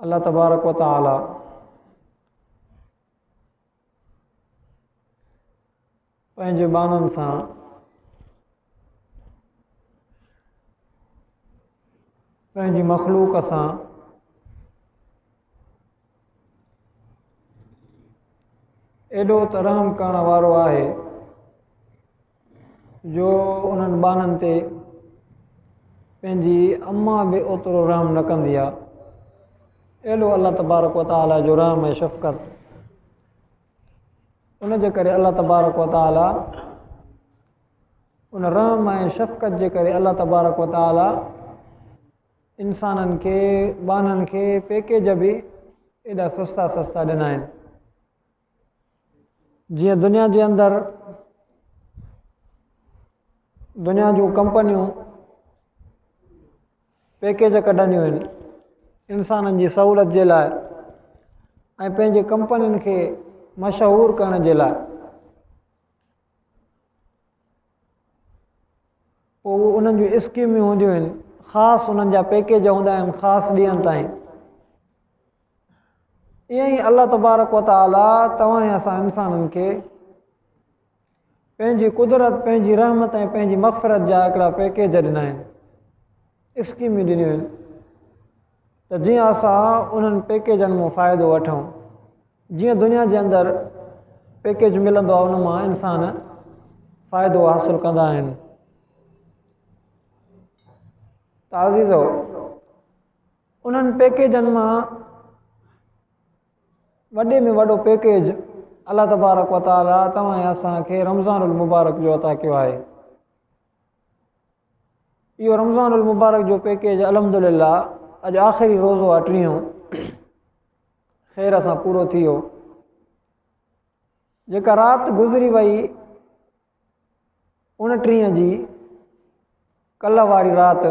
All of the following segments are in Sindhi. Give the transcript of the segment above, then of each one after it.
الله تبارڪ و تعالي پنهنجي ٻانهن سان پنهنجي مخلوق سان ايڏو ته رحم ڪرڻ وارو آهي جو انهن ٻانهن تي پنهنجي اما به اوترو رحم نه ڪندي آ اهڙو الله تبارڪ و تعالي جو رحم ۽ شفقت ان جي ڪري الله تبارڪ و تعالي ان رحم ۽ شفقت جي ڪري الله تبارڪ و تعالي انسانن کي ٻانهن کي پيڪيج به ايڏا سستا سستا ڏنا آهن جيئن دنيا جي اندر دنيا جون ڪمپنيون پيڪيج ڪڍنديون آهن انسانن جي سهولت جي لاء ۽ پنهنجي ڪمپنين کي مشهور ڪرڻ جي لاء پوء اهي انهن جون اسڪيميون هونديون آهن خاص انهن جا پيڪيج هوندا آهن خاص ڏينهن تائين ائين ئي الله تبارڪ وتعاليٰ توهان ۽ اسان انسانن کي پنهنجي قدرت پنهنجي رحمت ۽ پنهنجي مغفرت جا هڪڙا پيڪيج ڏنا آهن اسڪيمون ڏنيون آهن ته جيئن اسان انهن پيڪيجن مان فائدو وٺون جيئن دنيا جي اندر پيڪيج ملندو آهي ان مان انسان فائدو حاصل ڪندا آهن تعزيزو انهن پيڪيجن مان وڏي ۾ وڏو پيڪيج الله تبارڪ وتعاليٰ توهان اسان کي رمضان المبارڪ جو عطا ڪيو آهي اهو رمضان المبارڪ جو پيڪيج الحمدلله اڄ آخري روزو آ ٽيون خير سان پورو ٿي ويو جيڪا رات گذري وئي ان ٽي جي کل واري رات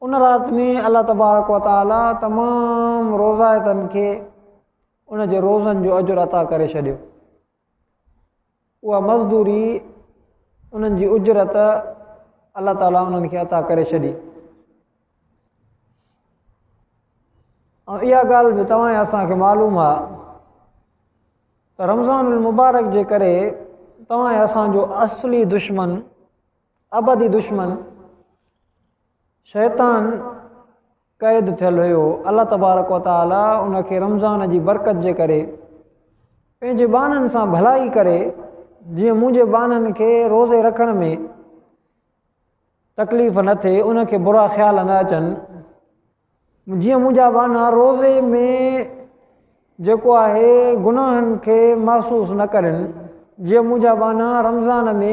ان رات ۾ الله تبارڪ وتعالي تمام روزائتن کي ان جي روزن جو اجر عطا ڪري ڇڏيو اها مزدوري انهن جي اجرت الله تعالي انهن کي عطا ڪري ڇڏي ۽ اها ڳالهه به توهان اسان کي معلوم آ ته رمضان المبارڪ جي ڪري توهان اسان جو اصلي دشمن ابدي دشمن شيطان قيد ٿيل هيو الله تبارڪ و تعالي ان کي رمضان جي برڪت جي ڪري پنهنجي ٻانهن سان ڀلائي ڪري جيئن منهنجي ٻانهن کي روزي رکڻ ۾ تڪليف نه ٿئي ان کي برا خيال نه اچن جيئن منهنجا ٻانها روزي ۾ جيڪو آهي گناهن کي محسوس نه ڪرن جيئن منهنجا ٻانها رمضان ۾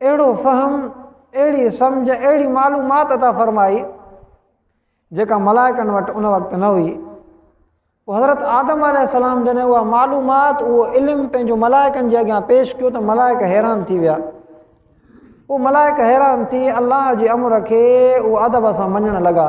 اهڙو فهم، اهڙي سمجهه، اهڙي معلومات عطا فرمائي، جيڪا ملائڪن وٽ ان وقت نه هئي. پوء حضرت آدم عليه السلام جڏهن اها معلومات، اهو علم پنهنجو ملائڪن جي اڳيان پيش ڪيو ته ملائڪ حيران ٿي ويا. پوء ملائڪ حيران ٿي الله جي امر کي اهو ادب سان مڃڻ لڳا.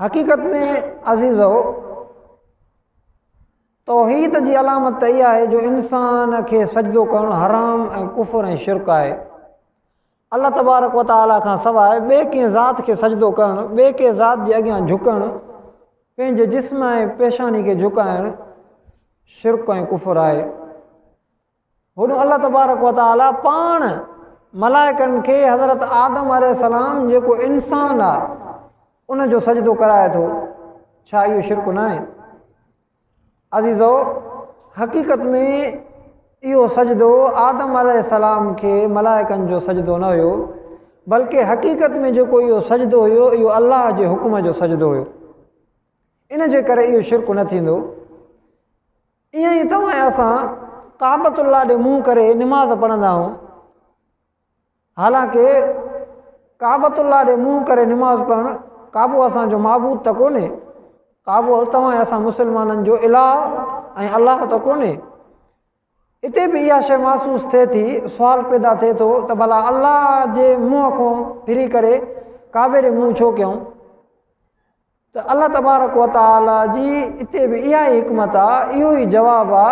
حقيقت ۾ عزيزو توحيد جي علامت ته اها آهي جو انسان کي سجدو ڪرڻ حرام ۽ ڪفر ۽ شرڪ آهي الله تبارڪ و تعاليٰ کان سواء ٻئي ڪنهن ذات کي سجدو ڪرڻ ٻئي ڪنهن ذات جي اڳيان جھڪڻ پنهنجي جسم ۽ پيشاني کي جھڪائڻ شرڪ ۽ ڪفر آهي هن الله تبارڪ و تعالي پاڻ ملائڪن کي حضرت آدم عليه السلام جيڪو انسان آ ان جو سجدو ڪرائي ٿو ڇا اهو شرڪ نه آهي عزيزو حقيقت ۾ اهو سجدو آدم عليه السلام کي ملائڪن جو سجدو نه هيو بلڪه حقيقت ۾ جيڪو اهو سجدو هيو اهو الله جي حڪم جو سجدو هيو ان جي ڪري اهو شرڪ نه ٿيندو ائين ئي توهان ۽ اسان ڪعبة الله ڏي منهن ڪري نماز پڙهندا آهيون حالانڪه ڪعبة الله ڏي منهن ڪري نماز پڙهڻ ڪعبو اسان جو معبود ته ڪونهي ڪعبو توهان ۽ اسان مسلمانن جو الٰه ۽ الله ته ڪونهي اتي به اها شيء محسوس ٿئي ٿي سوال پيدا ٿئي ٿو ته ڀلا الله جي منهن کان ڦري ڪري ڪعبي ڏي منهن ڇو ڪيائون ته الله تبارڪ و تعالي جي اتي به اها ئي حڪمت آ اهو ئي جواب آ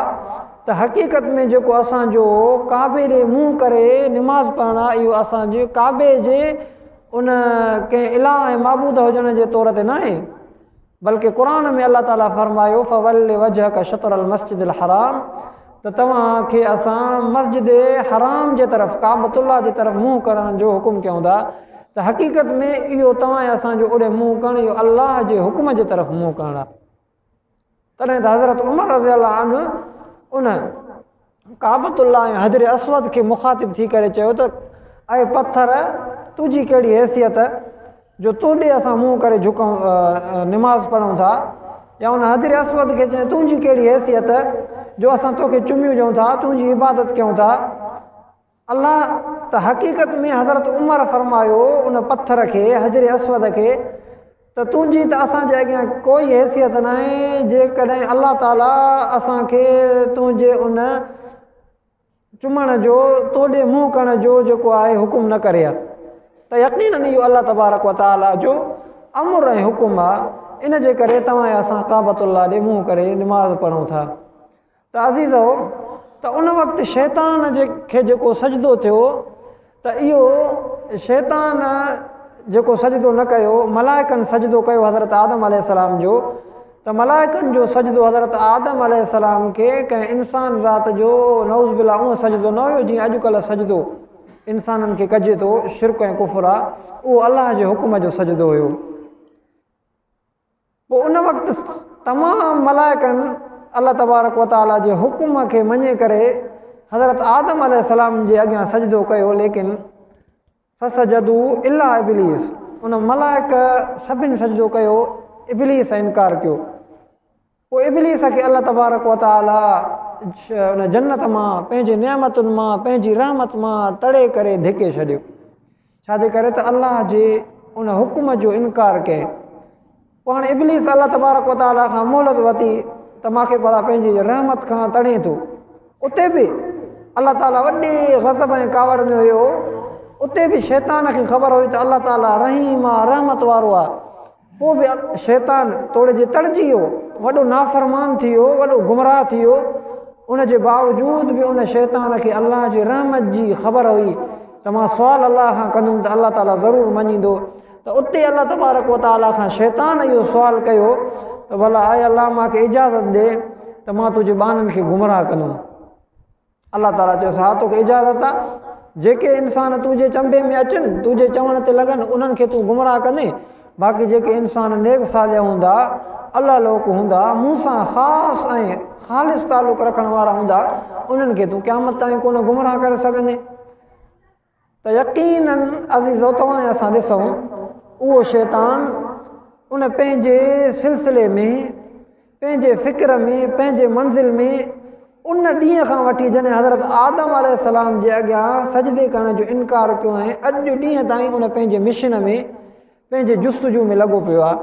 ته حقيقت ۾ جيڪو اسان جو ڪعبي ڏي منهن ڪري نماز پڙهڻ آ اهو اسان جي ڪعبي جي ان ڪنهن اله ۽ معبود هجڻ جي طور تي ناهي بلڪه قرآن ۾ الله تعالي فرمايو فول وجهڪ شطر المسجد الحرام ته توهان کي اسان مسجد حرام جي طرف، ڪعبة الله، جي طرف منهن ڪرڻ جو حڪم ڪيون ٿا ته حقيقت ۾ اهو توهان ۽ اسان جو اوڏي منهن ڪرڻ اهو الله جي حڪم جي طرف منهن ڪرڻ آهي. تڏهن ته حضرت عمر رضي الله عنه ان ڪعبة الله ۽ حجر اسود کي مخاطب ٿي ڪري چيو ته اي پٿر تنهنجي ڪهڙي حيثيت جو تو ڏي اسان منهن ڪري جهڪون، نماز پڙهون ٿا، يا ان حجر اسود کي چئين تنهنجي ڪهڙي حيثيت جو اسان توکي چميون ڏيون ٿا، تنهنجي عبادت ڪيون ٿا؟ الله ته حقيقت ۾ حضرت عمر فرمايو ان پٿر کي، حجر اسود کي، ته تنهنجي ته اسان جي اڳيان ڪوئي حيثيت ناهي، جيڪڏهن الله تعاليٰ اسان کي تنهنجي ان چمڻ جو، تو ڏي منهن ڪرڻ جو جيڪو آء حڪم نه ڪري ها ته يقيناً اهو الله تبارڪ و تعاليٰ جو امر ۽ حڪم آ، ان جي ڪري توهان ۽ اسان ڪعبة الله ڏي منهن ڪري نماز پڙهون ٿا. ته عزيزؤ! ته ان وقت شيطان کي جيڪو سجدو ٿيو، ته اهو شيطان جيڪو سجدو نه ڪيو ملائڪن سجدو ڪيو حضرت آدم عليه السلام جو ته ملائڪن جو سجدو حضرت آدم عليه السلام کي ڪنهن انسان ذات جو نعوذ بالله اهو سجدو نه هيو جيئن اڄڪلهه سجدو انسانن کي ڪجي ٿو شرڪ ۽ ڪفر آ اهو الله جي حڪم جو سجدو هيو پوء ان وقت تمام ملائڪن الله تبارڪ و تعاليٰ جي حڪم کي مڃي ڪري حضرت آدم عليه السلام جي اڳيان سجدو ڪيو ليڪن فسجدو الا ابليس ان ملائڪ سڀن سجدو ڪيو ابليس انڪار ڪيو پوء ابليس کي الله تبارڪ و تعاليٰ ان جنت مان پنهنجي نعمتن مان پنهنجي رحمت مان تڙي ڪري ڌڪي ڇڏيو ڇا جي ڪري ته الله جي ان حڪم جو انڪار ڪئي پاڻ ابليس الله تبارڪ و تعاليٰ کان مهلت ورتي ته ماکي بلا پنهنجي رحمت کان تڙي ٿو اتي به الله تعاليٰ وڏي غضب ۽ ڪاوڙ ۾ هيو اتي به شيطان کي خبر هئي ته الله تعاليٰ رحيم آ رحمت وارو آ پوء به شيطان توڙي جي تڙ جي ويو، وڏو نافرمان ٿي ويو، وڏو گمراهه ٿي ويو، ان جي باوجود به ان شيطان کي الله جي رحمت جي خبر هئي ته مان سوال الله کان ڪندم ته الله تعالي ضرور مڃيندو ته اتي الله تبارڪ و تعالي کان شيطان اهو سوال ڪيو ته ڀلا اي الله مان کي اجازت ڏي ته مان تنهنجي ٻانهن کي گمراهه ڪندم. الله تعاليٰ چيس، ها توکي اجازت آ، جيڪي انسان تنهنجي چنبي ۾ اچن، تنهنجي چوڻ تي لڳن، انهن کي تون گمراهه ڪندين، باقي جيڪي انسان نيڪ صالح هوندا، الله لوڪ هوندا، مون سان خاص ۽ خالص تعلق رکڻ وارا هوندا، انهن کي تون قيامت تائين ڪونه گمراهه ڪري سگهندين. ته يقيناً عزيزو توهان ۽ اسان ڏسون اهو شيطان ان پنهنجي سلسلي ۾ پنهنجي فڪر ۾ پنهنجي منزل ۾ ان ڏينهن کان وٺي جڏهن حضرت آدم عليه السلام جي اڳيان سجدي ڪرڻ جو انڪار ڪيو ۽ اڄ جو ڏينهن تائين ان پنهنجي مشن ۾ پنهنجي جستجو ۾ لڳو پيو آهي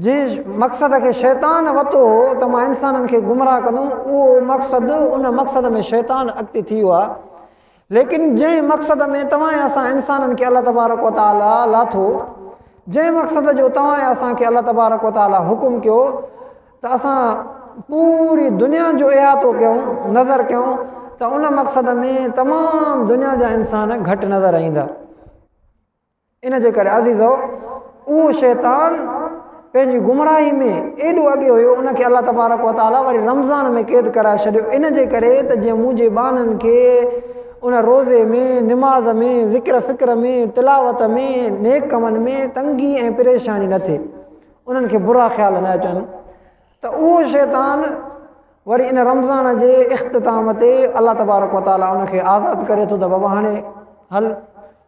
جي مقصد کي شيطان وتو هو ته مان انسانن کي گمراهه ڪندم اهو مقصد ان مقصد ۾ شيطان اڳتي ٿي ويو آهي ليڪن جنهن مقصد ۾ توهان ۽ اسان انسانن کي الله تبارڪ و تعالٰي لاٿو جنهن مقصد جو توهان ۽ اسان کي الله تبارڪ و تعالٰي حڪم ڪيو ته اسان پوري دنيا جو احاطو ڪيون نظر ڪيون ته ان مقصد ۾ تمام دنيا جا انسان گهٽ نظر ايندا ان جي ڪري عزيزؤ! اهو شيطان پنهنجي گمراهي ۾ ايڏو اڳي هيو، ان کي الله تبارڪ و تعاليٰ وري رمضان ۾ قيد ڪرائي ڇڏيو، ان جي ڪري ته جيئن منهنجي ٻانهن کي ان روزي ۾، نماز ۾، ذڪر فڪر ۾، تلاوت ۾، نيڪ ڪمن ۾ تنگي ۽ پريشاني نه ٿئي، انهن کي برا خيال نه اچن، ته اهو شيطان وري ان رمضان جي اختتام تي الله تبارڪ و تعاليٰ ان کي آزاد ڪري ٿو ته بابا هاڻي هل!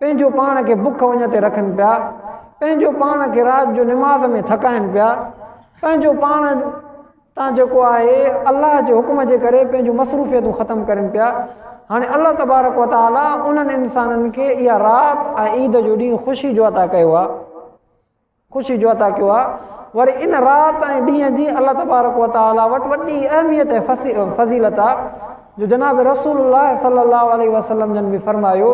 پنهنجو پاڻ کي بک وڃ تي رکن پيا، پنهنجو پاڻ کي رات جو نماز ۾ ٿڪائن پيا، پنهنجو پاڻ تان جيڪو آهي الله جي حڪم جي ڪري پنهنجون مصروفيتون ختم ڪرن پيا، هاڻي الله تبارڪ و تعالي انهن انسانن کي اها رات ۽ عيد جو ڏينهن خوشي جو عطا ڪيو آهي. خوشي جو عطا ڪيو آهي وري ان رات ۽ ڏينهن جي الله تبارڪ و تعالي وٽ وڏي اهميت ۽ فضيلت آ جو جناب رسول الله صلي الله عليه وسلم جن به فرمايو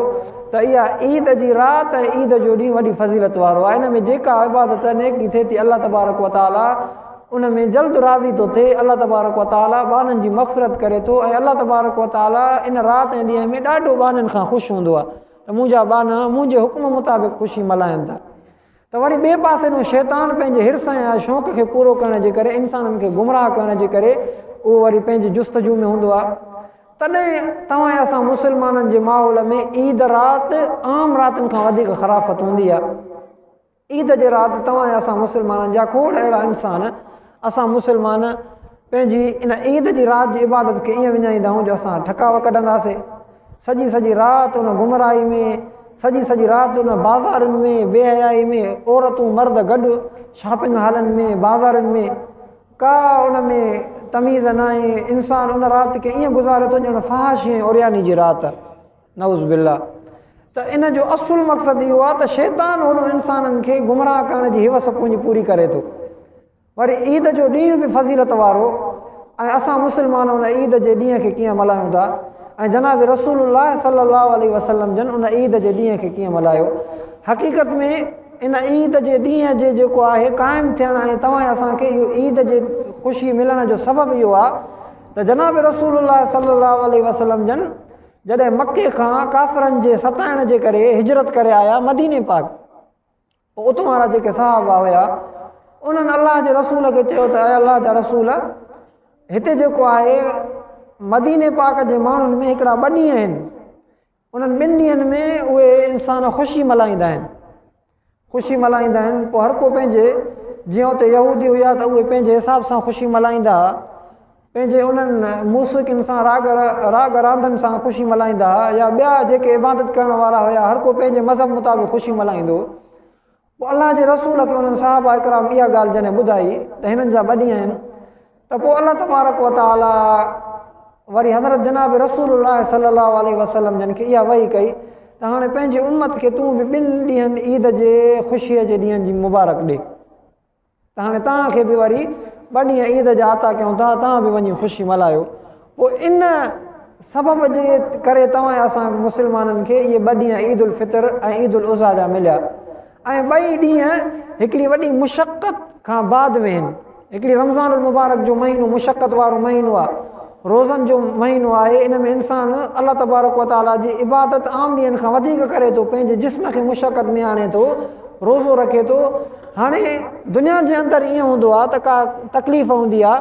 ته اها عيد جي رات ۽ عيد جو ڏينهن وڏي فضيلت وارو آهي ان ۾ جيڪا عبادت نيڪي ٿئي ٿي الله تبارڪ و تعالي ان ۾ جلد راضي ٿو ٿئي الله تبارڪ و تعالي ٻانهن جي مغفرت ڪري ٿو ۽ الله تبارڪ و تعالي ان رات ۽ ڏينهن ۾ ڏاڍو ٻانهن کان خوش هوندو آهي ته منهنجا ٻانها منهنجي حڪم مطابق خوشي ملهائن ٿا ته وري ٻئي پاسي ڏانهن شيطان پنهنجي حرص ۽ شوق کي پورو ڪرڻ جي ڪري انسانن کي گمراهه ڪرڻ جي ڪري اهو وري پنهنجي جستجو ۾ هوندو آهي تڏهن توهان اسان مسلمانن جي ماحول ۾ عيد رات عام راتن کان وڌيڪ خرافت هوندي آهي عيد جي رات توهان اسان مسلمانن جا کوڙ اهڙا انسان اسان مسلمان پنهنجي ان عيد جي رات جي عبادت کي ائين وڃائيندا آهيون جو اسان ٺڪاء ڪڍنداسين سڄي سڄي رات ان گمراهي ۾ سڄي سڄي رات ان بازارن ۾ بي حيائي ۾ عورتون مرد گڏ شاپنگ هالن ۾ بازارن ۾ ڪا ان ۾ تميز ناهي انسان ان رات کي ائين گذاري ٿو ڄڻ فحاشي ۽ عرياني جي رات نعوذ بالله ته ان جو اصل مقصد اهو آهي ته شيطان هوڏو انسانن کي گمراهه ڪرڻ جي هوس پنهنجي پوري ڪري ٿو وري عيد جو ڏينهن به فضيلت وارو ۽ اسان مسلمان ان عيد جي ڏينهن کي ڪيئن ملهايون ٿا ۽ جناب رسول الله صلي الله عليه وسلم جن ان عيد جي ڏينهن کي ڪيئن ملهايو حقيقت ۾ ان عيد جي ڏينهن جي جيڪو آهي قائم ٿيڻ ۽ توهان اسان کي اهو عيد جي خوشي ملڻ جو سبب اهو آهي ته جناب رسول الله صلي الله عليه وسلم جن جڏهن مڪي کان ڪافرن جي ستائڻ جي ڪري هجرت ڪري آيا مديني پاڪ پوء اتون وارا جيڪي صحابا هيا انهن الله جي رسول کي چيو ته اي الله جا رسول هتي جيڪو آهي مديني پاڪ جي ماڻهن ۾ هڪڙا ٻه ڏينهن آهن انهن ٻن ڏينهن ۾ اهي انسان خوشي ملائيندا آهن خوشي ملهائيندا آهن پوء هر ڪو پنهنجي جيئن اتي يهودي هيا ته اهي پنهنجي حساب سان خوشي ملهائيندا هئا پنهنجي انهن موسيقين سان راڳ راڳ راندن سان خوشي ملهائيندا هئا يا ٻيا جيڪي عبادت ڪرڻ وارا هيا هر ڪو پنهنجي مذهب مطابق خوشي ملهائيندو پوء الله جي رسول کي انهن صحابه اڪرام اها ڳالهه جڏهن ٻڌائي ته هنن جا ٻه ڏينهن آهن ته پوء الله تبارڪ وتعالي وري حضرت جناب رسول الله صلي الله عليه وسلم جن کي اها وحي ڪئي ته هاڻي پنهنجي امت کي تون به ٻن ڏينهن عيد جي خوشيء جي ڏينهن جي مبارڪ ڏي ته هاڻي توهان کي به وري ٻه ڏينهن عيد جا عطا ڪيون ٿا توهان به وڃي خوشي ملهايو پوء ان سبب جي ڪري توهان ۽ اسان مسلمانن کي اهي ٻه ڏينهن عيد الفطر ۽ عيد الاضحيٰ جا مليا ۽ ٻئي ڏينهن هڪڙي وڏي مشقت کان بعد ۾ هن هڪڙي رمضان المبارڪ جو مهينو مشقت وارو مهينو آهي روزن جو مهينو آهي ان ۾ انسان الله تبارڪ و تعاليٰ جي عبادت عام ڏينهن کان وڌيڪ ڪري ٿو پنهنجي جسم کي مشقت ۾ آڻي ٿو روزو رکي ٿو هاڻي دنيا جي اندر ائين هوندو آهي ته ڪا تڪليف هوندي آهي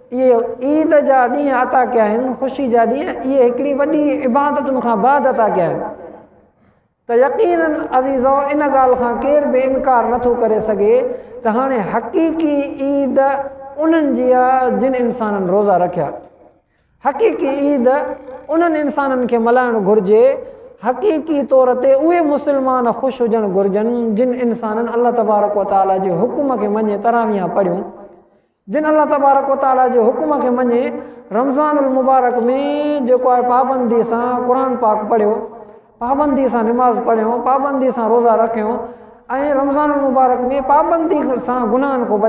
اهي عيد جا ڏينهن عطا ڪيا آهن خوشي جا ڏينهن اهي هڪڙي وڏي عبادتن کان بعد عطا ڪيا آهن ته يقينا عزيزو ان ڳالهه کان ڪير به انڪار نٿو ڪري سگهي ته هاڻي حقيقي عيد انهن جي آهي جن انسانن روزا رکيا حقيقي عيد انهن انسانن کي ملهائڻ گهرجي حقيقي طور تي اهي مسلمان خوش هجڻ گهرجن جن انسانن الله تبارڪ و تعاليٰ جي حڪم کي مڃي تراويان پڙهيون جن الله تبارڪ و تعاليٰ جي حڪم کي مڃي رمضان المبارڪ ۾ جيڪو آء پابندي سان قرآن پاڪ پڙهيو، پابندي سان نماز پڙهيون، پابندي سان روزا رکيون ۽ رمضان المبارڪ ۾ پابندي سان گناهن کان بچيون.